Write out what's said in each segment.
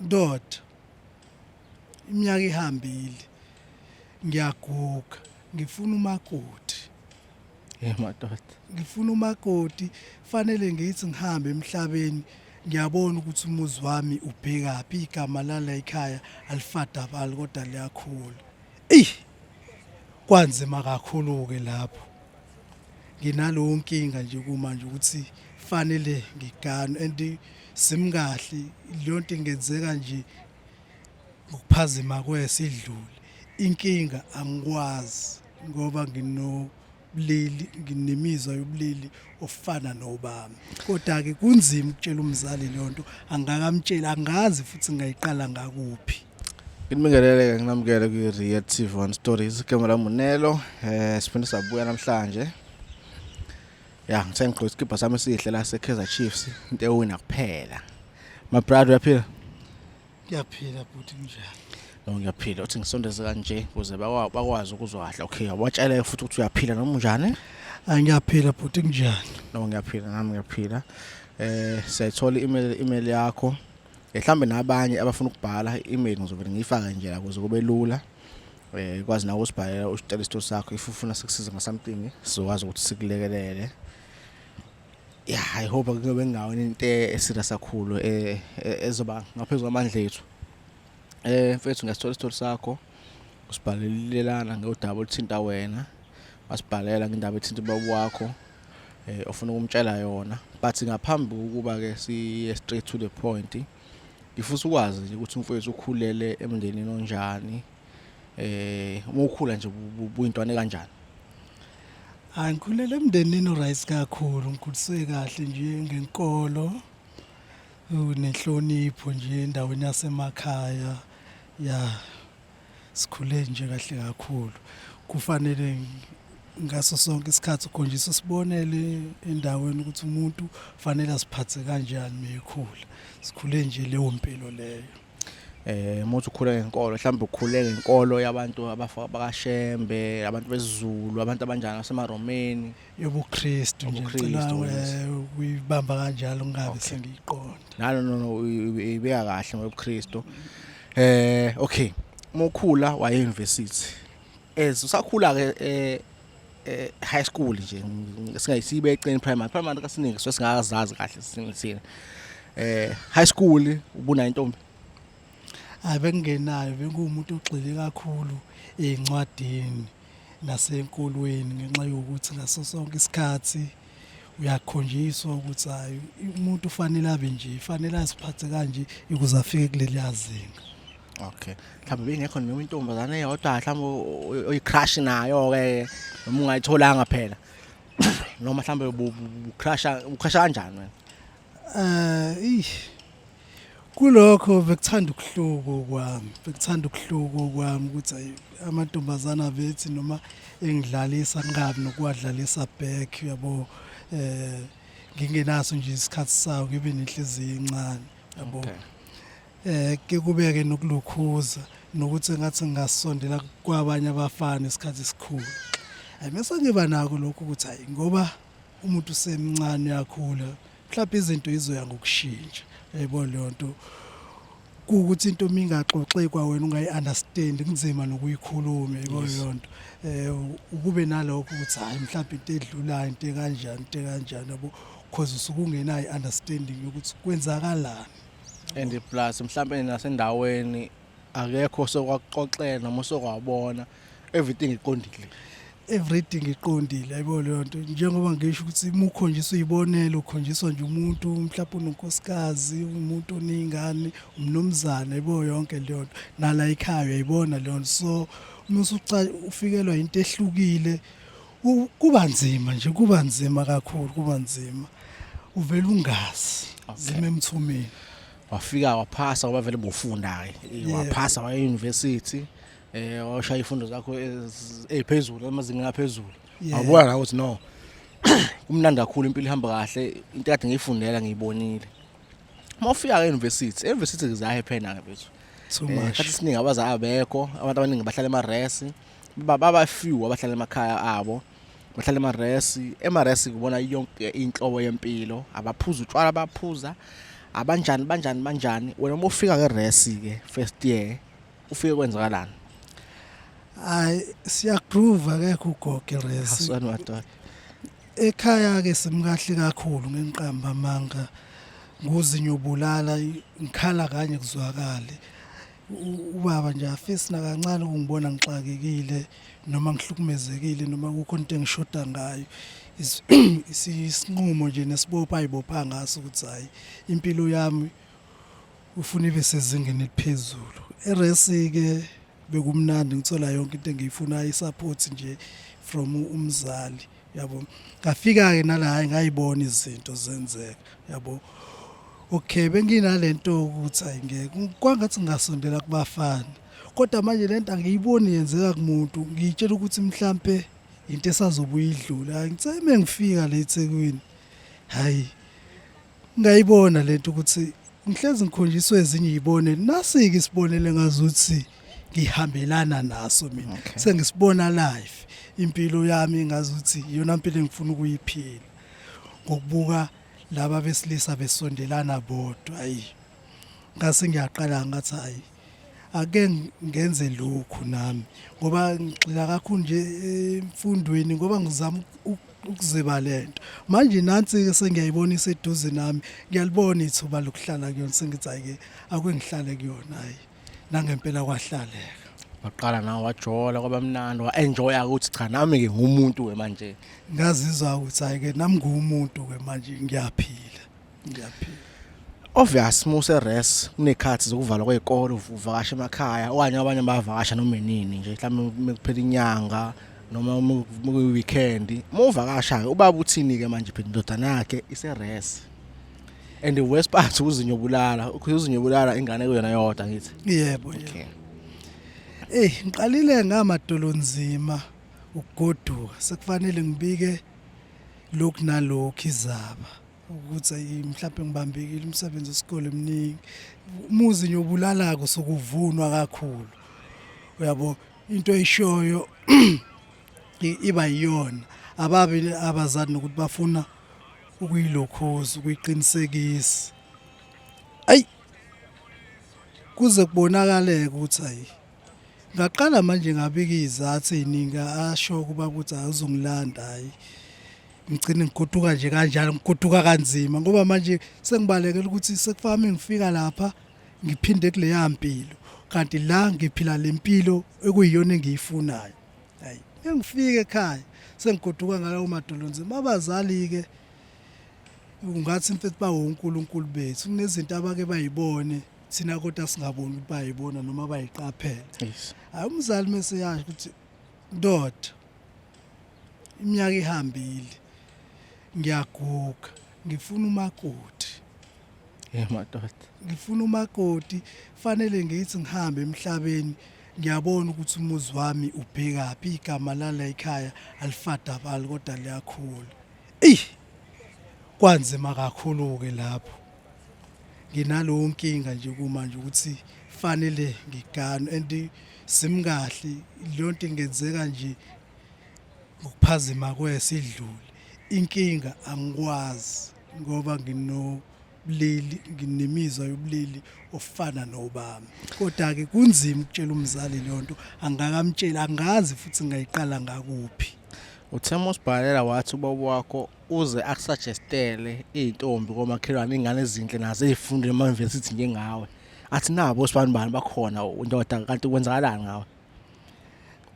Ndoda, iminyaka ihambile, ngiyaguga, ngifuna umakoti. Hey madoda. Ngifuna umakoti, fanele ngithi ngihambe emhlabeni ngiyabona ukuthi umuzi wami ubhekaphi igama lala ekhaya alifadabali kodwa liyakhula eyi kwanzima kakhulu-ke lapho nginaleyo nkinga nje kumanje ukuthi fanele ngiganwe and simkahle leyonto ingenzeka nje ngokuphazima kwesidlule inkinga angikwazi ngoba ngino ubulili nginemizwa yobulili ofana nobami kodwa ke kunzima ukutshela umzali leyonto angakamtsheli angazi futhi ngayiqala ngakuphi Ngibingeleleke nginamukele kwi Real TV One Stories igama lami Munelo eh siphinde sabuya namhlanje ya ngithe ngigqoke isikibha sami esihle la sekaizer chiefs into ewina kuphela my brother uyaphila ngiyaphila bhuti kunjani no ngiyaphila uthi ngisondeze kanje ukuze bakwazi ukuzwa kahle okay wabatshela futhi ukuthi uyaphila noma unjani angiyaphila bhuti kunjani no ngiyaphila nami ngiyaphila eh siyayithola i-email i-email yakho mhlawumbe nabanye abafuna ukubhala i-email ngizovele ngiyifake nje la kuze kube lula eh kwazi nawe usibhalela usicela isito sakho if ufuna sikusiza nga something sizokwazi ukuthi sikulekelele yeah i hope kuyobe ngawona into eserious kakhulu eh, eh ezoba ngaphezulu kwamandla ethu eh mfethu ngesithola isito sakho usibhalelelana ngodaba oluthinta wena wasibhalela ngendaba ethinta ubaba wakho eh ofuna ukumtshela yona but ngaphambi ukuba ke siye straight to the point ngifisa ukwazi nje ukuthi umfowethu ukhulele emndenini onjani eh uma ukhula nje buyintwana kanjani hayi ngikhulele emndenini uright kakhulu ngikhuliswe kahle nje ngenkolo unenhlonipho nje endaweni yasemakhaya ya sikhule nje kahle kakhulu kufanele ngaso sonke isikhathi ukhonjisa usibonele endaweni ukuthi umuntu fanele asiphathe kanjani mekhula sikhule nje leyo mpilo leyo eh muthi ukhule ngenkolo mhlawumbe ukhule ngenkolo yabantu abafaka bakashembe abantu bezulu abantu abanjani asemaromeni yobuKristu nje Ubukhristu, ngicela yes. eh, ukuyibamba kanjalo ngingabe Okay. sengiyiqonda nalo no no ibeka kahle ngobuKristu eh okay mokhula waye university as usakhula ke eh eh, high school nje singayisibe eceni primary primary kasiningi so singazazi kahle sinisini eh high school ubuna intombi hayi bengingenayo benguwumuntu ogxile kakhulu ey'ncwadini nasenkolweni ngenxa yokuthi ngaso sonke isikhathi uyakhonjiswa ukuthi hayi umuntu ufanele abe nje fanele asiphathe kanje ukuze afike kuleli yazinga okay mhlawumbe bengekho noma intombazane eyodwa mhlawumbe oyicrush nayo ke noma ungayitholanga phela noma mhlawumbe ucrusha ucrusha kanjani wena eh kulokho bekuthanda ukuhluko kwami bekuthanda ukuhluko kwami ukuthi ayi amantombazana bethi noma engidlalisa nqabi nokuwadlalisa back yabo eh ngingenaso nje isikhathi sawo ngibe nenhliziyo encane yabo eh ke kubeke nokulukhuza nokuthi ngathi ngasondela kwabanye abafana isikhathi esikhulu ayi mase ngiba nako lokho ukuthi hayi ngoba umuntu usemncane uyakhula mhlawumbe izinto izoya ngokushintsha yayibona leyo nto kuwukuthi into uma ingaxoxi kwawena ungayi-understand kunzima nokuyikhuluma yayibona leyo nto um ukube nalokho ukuthi hhayi mhlawumbe into edlulayo into ekanjani into ekanjani yabo because usuke ungenayo i-understanding yokuthi kwenzakalani and plus mhlawumbe nasendaweni akekho sokwakuxoxela noma sokwabona everything iqondile everything iqondile ayibo leyo nto njengoba ngisho ukuthi uma ukhonjiswa uyibonela ukhonjiswa nje umuntu mhlawumbe unonkosikazi umuntu oney'ngane umnumzane ayibo yonke leyo nto nala ekhaya uyayibona leyo nto so uma usufikelwa yinto ehlukile kuba nzima nje kuba nzima kakhulu kuba nzima uvele ungazi zime emthumeni wafika waphasa ngoba vele bufunda-ke waphasa waya e-university eh washaya ifundo zakho eziphezulu amazingeni aphezulu awubona la ukuthi no kumnandi kakhulu impilo ihamba kahle into kade ngiyifundela ngiyibonile uma ufika ke university university ngizahe phena ke bethu so eh, much kathi siningi abazali abekho abantu abaningi bahlala emaresi baba few abahlala emakhaya abo bahlala emaresi emaresi kubona yonke inhlobo yempilo abaphuza utshwala abaphuza abanjani banjani banjani wena uma ufika ngeresi ke first year ufike kwenzakalani hayi siyagroove akekho ugoge resi asani madoda ekhaya ke simkahle kakhulu ngenqamba manga nguzinyobulala ngikhala kanye kuzwakale ubaba nje afisi nakancane ukungibona ngixakekile noma ngihlukumezekile noma kukho into engishoda ngayo isinqumo nje nesibopha ayibopha ngaso ukuthi hayi impilo yami ufuna ibe sezingeni eliphezulu eresi-ke bekumnandi ngithola yonke into engiyifunayo i-support nje from umzali yabo ngafika-ke nala hhayi ngayibona izinto zenzeka yabo okay benginale nto ukuthi hayi ngeke kwangathi ngingasondela kubafana kodwa manje le nto angiyiboni yenzeka kumuntu ngiyitshela ukuthi mhlampe into esazobuye idlule hayi ngithe uma ngifika la ethekwini hhayi ngayibona le nto ukuthi Ngihlezi ngikhonjiswe ezinye izibone nasike isibonele ngazuthi ngihambelana naso mina okay. sengisibona live impilo yami ngazuthi iyona impilo engifuna ukuyiphila ngokubuka laba besilisa besondelana bodwa ayi ngase ngiyaqala ngathi ayi ake ngenze lokhu nami ngoba ngigxila kakhulu nje emfundweni ngoba ngizama ukuziba lento manje nansi ke sengiyayibona iseduze nami ngiyalibona ithuba lokuhlala kuyona sengithi ayike akwengihlale kuyona hayi nangempela kwahlaleka waqala nawe wajola kwaba mnandi wa-enjoya ukuthi cha nami-ke ngumuntu-ke manje ngazizwa ukuthi hhayi-ke nami nguwumuntu-ke manje ngiyaphila ngiyaphila obvious muse res kunekhathi zokuvalwa kwezikole uvakasha emakhaya okanye abanye bayavakasha noma inini nje mhlawumbe mekuphela inyanga noma mukuyi weekend muvakashayo ubaba uthini ke manje phela indodana yakhe ise res and the worst part uzinyo bulala uzinyo bulala ingane kuyona yodwa ngithi yebo okay Ey ngiqalile ngamadolo nzima ukugoduka sekufanele ngibike lokhu nalokhu izaba. ukuthi ayi mhlawumbe ngibambekile umsebenzi wesikole mningi umuzi nje ubulalako sokuvunwa kakhulu uyabo into eyishoyo iba yiyona ababi abazali nokuthi bafuna ukuyilokhoza ukuyiqinisekisa ayi kuze kubonakaleke ukuthi ayi ngaqala manje ngabika izathu eziningi asho kuba ukuthi awuzongilanda hayi ngigcine ngigoduka nje kanjalo ngigoduka kanzima ngoba manje sengibalekela ukuthi sekufami ngifika lapha ngiphinde kuleya mpilo kanti la ngiphila le mpilo ekuyiyona engiyifunayo hayi ngifike ekhaya sengigoduka ngalawo madolo nzima abazali-ke ungathi mfethu bawunkulunkulu bethu kunezinto abake bayibone thina kodwa singaboni ukuthi bayibona noma bayiqaphela hayi umzali meseyasho ukuthi ndoda iminyaka ihambile ngiyaguga ngifuna umakoti Eh madoda. ngifuna umakoti fanele ngithi ngihambe emhlabeni ngiyabona ukuthi umuzi wami ubhekaphi igama lala ekhaya alifadabali kodwa liyakhula eyi kwanzima kakhulu-ke lapho nginalowo nkinga nje kumanje ukuthi fanele ngiganwe and simkahle leyo nto ingenzeka nje ngokuphazima kwesidluli inkinga angikwazi ngoba ngino bulili nginemizwa yobulili ofana nobami kodwa ke kunzima ukutshela umzali lento angakamtsheli angazi futhi ngayiqala ngakuphi uthema usibhalela wathi ubaba wakho uze akusuggestele izintombi komakhelwane ingane ezinhle nazo ezifunda ema-university njengawe athi nabo sibani bani bakhona indoda kanti kwenzakalani ngawe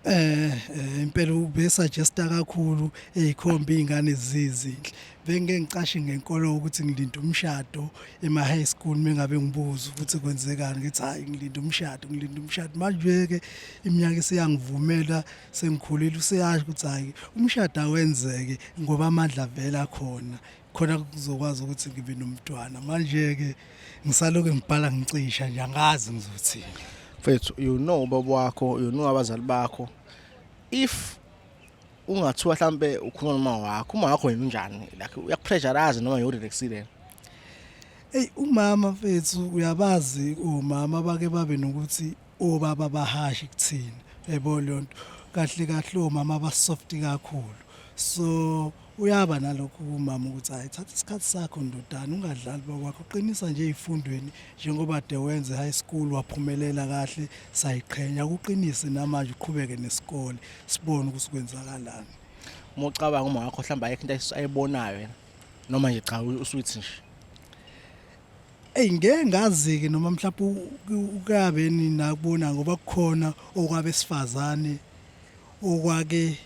eh, eh impela ubesuggesta kakhulu ezikhomba izingane zizinhle bengeke ngicashe ngenkolo ukuthi ngilinda umshado ema high school mengabe ngibuza ukuthi kwenzekani ngithi hayi ngilinda umshado ngilinda umshado manje ke iminyaka isiyangivumela sengikhulile useyasho ukuthi hayi umshado awenzeke ngoba amandla vela khona khona kuzokwazi ukuthi ngibe nomntwana manje-ke ngisaloke ngibhala ngicisha nje angazi ngizothini mfethu you know ubaba wakho you know abazali bakho if ungathiwa mhlambe ukhuluma noma wakho uma wakho yena unjani like uyakupressurize noma yorelaxile Ey umama mfethu uyabazi omama bake babe nokuthi Ubaba bahashi kuthina yebo lonto kahle kahle omama ba soft kakhulu so uyaba nalokhu kumama ukuthi hayi thatha isikhathi sakho ndodana ungadlali bakwakho qinisa nje ezifundweni njengoba de wenze high school waphumelela kahle sayiqhenya ukuqinise namanje uqhubeke nesikole sibone ukuthi kwenzakalani uma ucabanga uma wakho mhlawumbe ayikho into ayibonayo yena noma nje cha usuthi nje Eyi ngeke ngazi-ke noma mhlawumbe ukabe ninakubona ngoba kukhona okwabesifazane okwake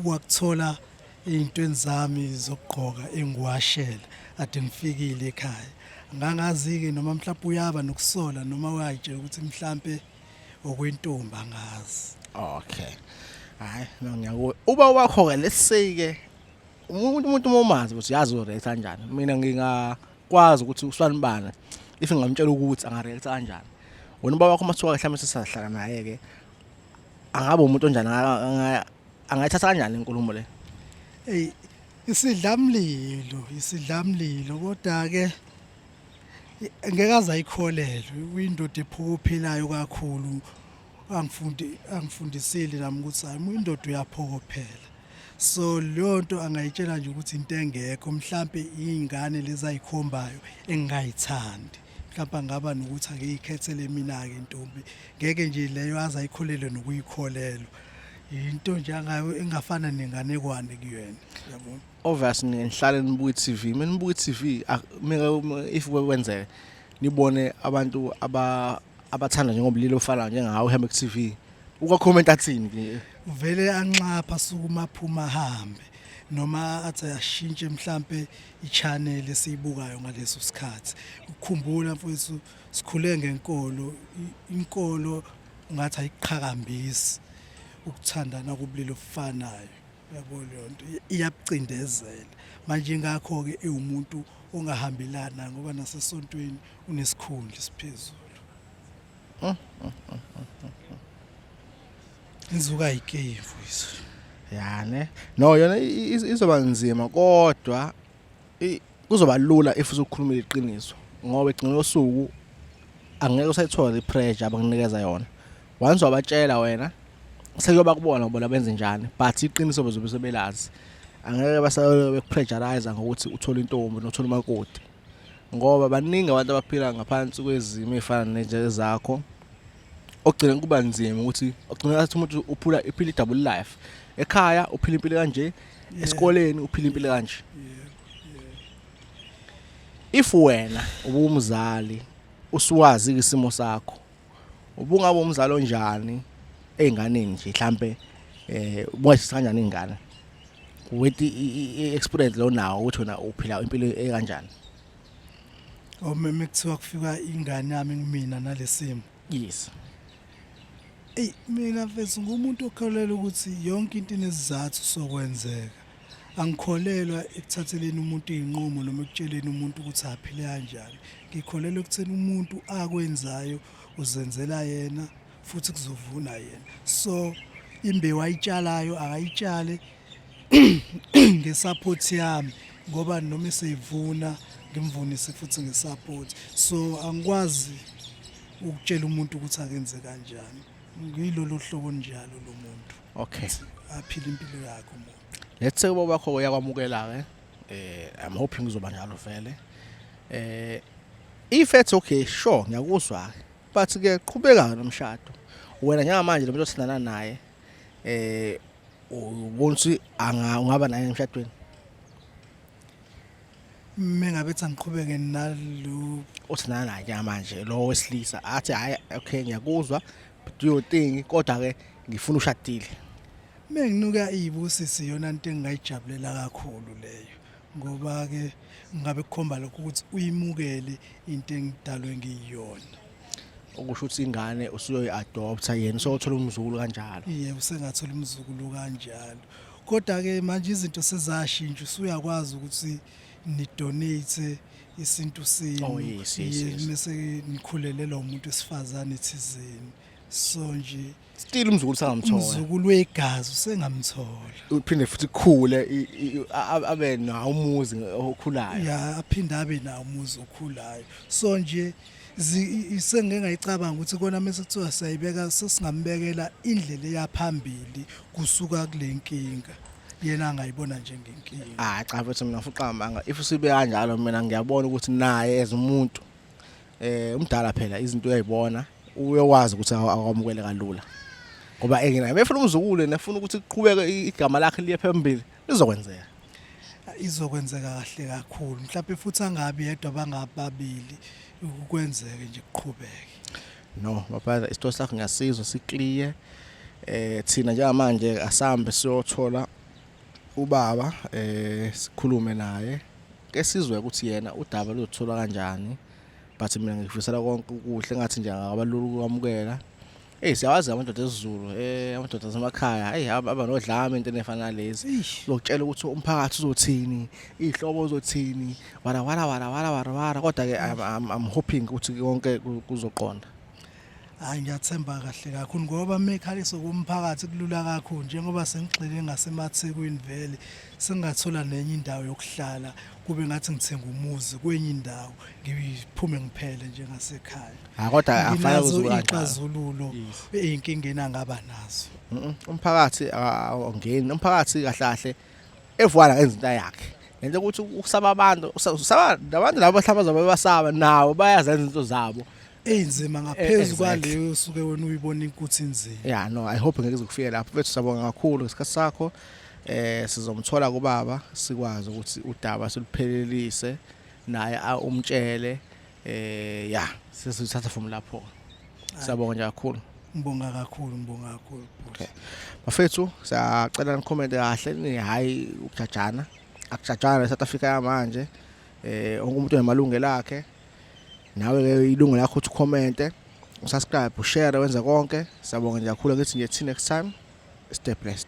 wakuthola ey'ntweni zami zokugqoka engiwashela ade ngifikile ekhaya ngangazi-ke noma mhlawumbe uyaba nokusola noma wayitshela ukuthi mhlawumbe okwentombi angazi okay hayi no ngiyakuwe uba wakho-ke lesike umuntu umuntu uma umazi ukuthi yazi ureact kanjani mina nginga kwazi ukuthi usanibani if ngamtshela ukuthi angareact kanjani wena ubaba wakho masuka mhlawumbe sisahlala naye ke angabe umuntu onjani angayithatha kanjani inkulumo le hey isidlamlilo isidlamlilo kodwa ke ngeke aze ayikholelwe uyindoda ephuka ophilayo kakhulu angifundi angifundisile nami ukuthi hayi indoda uyaphokophela so leyo nto angayitshela nje ukuthi into engekho mhlampe iy'ngane lezi ayikhombayo engingayithandi mhlawumbe angaba nokuthi ake ikhethele mina-ke intombi ngeke nje leyo aze ayikholelwe nokuyikholelwa yinto nje angayo engafana nenganekwane kuyena yabona obvious ngihlale nibuka i-TV menibuka i-TV meka if kwenzeka nibone abantu aba abathanda njengobulili ofana njengawe uhambe ku TV ukakhomenta athini ke uvele anxapha sukuma phuma hambe noma athi ashintshe mhlambe i-channel esiyibukayo ngaleso sikhathi ukukhumbula mfowethu sikhule ngenkolo inkolo ngathi ayiqhakambisi ukuthandana kubulili ofanayo yabo leyo nto iyakucindezela manje ngakho-ke iwumuntu ongahambelana ngoba nasesontweni unesikhundla esiphezulu inzuka ayikeyivu izo ya ne no yona i- i- izoba nzima kodwa kuzoba lula if uzokhuluma iqiniso ngoba egcina losuku angeke usayithola ipressure abanginikeza yona once wabatshela wena sekuyoba kubona bona benze njani but iqiniso bezobe sebelazi angeke basayole bekupressurize ngokuthi uthole intombi nothola umakoti ngoba baningi abantu abaphila ngaphansi kwezimo ezifana nezakho okugcina kuba nzima ukuthi ogcina athi umuntu uphula iphila i-double life ekhaya uphila impilo kanje esikoleni uphila impilo kanje if wena ubumzali usuwazi isimo sakho ubungaba umzali onjani einganeni nje mhlambe eh ubungashisa kanjani ingane with i-experience lo nawo ukuthi wena uphila impilo ekanjani omeme kuthiwa kufika ingane yami kumina nalesimo yes Ey mina mfethu ngumuntu okholelwa ukuthi yonke into inezizathu sokwenzeka. Angikholelwa ekuthatheleni umuntu izinqumo noma ekutsheleni umuntu ukuthi aphile kanjani. Ngikholelwa ekutheni umuntu akwenzayo uzenzela yena futhi kuzovuna yena. So imbewu ayitshalayo akayitshale ngesupport yami ngoba noma eseyivuna ngimvunise futhi ngesupport so angikwazi ukutshela umuntu ukuthi akenze kanjani ngilolo hlobo njalo lo muntu okay aphile impilo yakhe umuntu let's say uba bakho uyakwamukela ke eh i'm hoping uzoba njalo vele eh if it's okay sure ngiyakuzwa but ke qhubeka nomshado wena njengamanje lo muntu osindana naye eh ubona ukuthi ungaba naye emshadweni mengabe ethi angiqhubeke nalo uthi nanake manje lo wesilisa athi hayi okay ngiyakuzwa but you think kodwa ke ngifuna ushadile menginuka iyibusi siyona into engingayijabulela kakhulu leyo ngoba-ke ngabe kukhomba lokho ukuthi uyimukele into engidalwe ngiyiyona okusho ukuthi ingane usuyoyi-adoptha yena useyothola umzukulu kanjalo ye usengathola umzukulu kanjalo kodwa-ke manje izinto sezashintsha usuyakwazi ukuthi nidonate isintu senu oh, yes, yes, yes. mese nikhulelelwa umuntu wesifazane thizeni so nje still umzukulu sangamthola umzukulu wegazi usengamthola uphinde futhi khule abe nawo umuzi okhulayo ya aphinde abe nawo umuzi okhulayo so nje sengike ngayicabanga ukuthi kona mase kuthiwa siyayibeka sesingambekela indlela eyaphambili kusuka kule nkinga yena angayibona njengenkinga ah cha mfethu mina fuqambanga if sibe kanjalo mina ngiyabona ukuthi naye ezumuntu eh umdala phela izinto uyayibona uyowazi ukuthi akwamukele kalula ngoba enginaye befuna umzukulu nefuna ukuthi kuqhubeke igama lakhe liye phambili lizokwenzeka izokwenzeka kahle kakhulu mhlawumbe futhi angabi yedwa bangababili ukwenzeke nje kuqhubeke no baphatha isitho sakho ngiyasizwa sikliye eh thina njengamanje asambe siyothola ubaba eh sikhulume naye ke sizwe ukuthi yena udaba luzothola kanjani but mina ngikufisela konke ukuhle ngathi nje akabalula ukwamukela Hey siyawazi amadoda esiZulu eh amadoda asemakhaya hey aba nodlame into efana lezi lokutshela ukuthi umphakathi uzothini ihlobo uzothini wala wala wala wala wala kodwa ke I'm hoping ukuthi konke kuzoqonda Hayi ngiyathemba kahle kakhulu ngoba mekhaliso komphakathi kulula kakhulu njengoba sengigxile ngasemathekwini vele sengathola nenye indawo yokuhlala kube ngathi ngithenga umuzi kwenye indawo ngiphume ngiphele nje ngasekhaya ha kodwa afaya kuzululu izinkingeni angaba nazo umphakathi awungeni umphakathi kahle kahle evuka la enzinto yakhe ngenxa ukuthi ukusaba abantu usaba nabantu labo bahlabaza babasaba nawo bayazenza into zabo eyinzima ngaphezu kwaleyo usuke wena uyibona inkuthi inzima yeah no i hope ngeke izokufika lapho bethu sabonga kakhulu ngesikhathi sakho eh sizomthola kubaba sikwazi ukuthi udaba siluphelelise naye umtshele eh ya sesithatha from lapho siyabonga nje kakhulu Ngibonga kakhulu, ngibonga kakhulu. Okay. Bafethu, siyacela nicomment kahle ni hayi ukujajana. Akujajana eSouth Africa yamanje. Eh wonke umuntu unemalungelo akhe. Nawe ke ilungu lakho ukuthi ucommente, usubscribe, ushare wenze konke. Siyabonga nje kakhulu ngithi nje till next time. Stay blessed.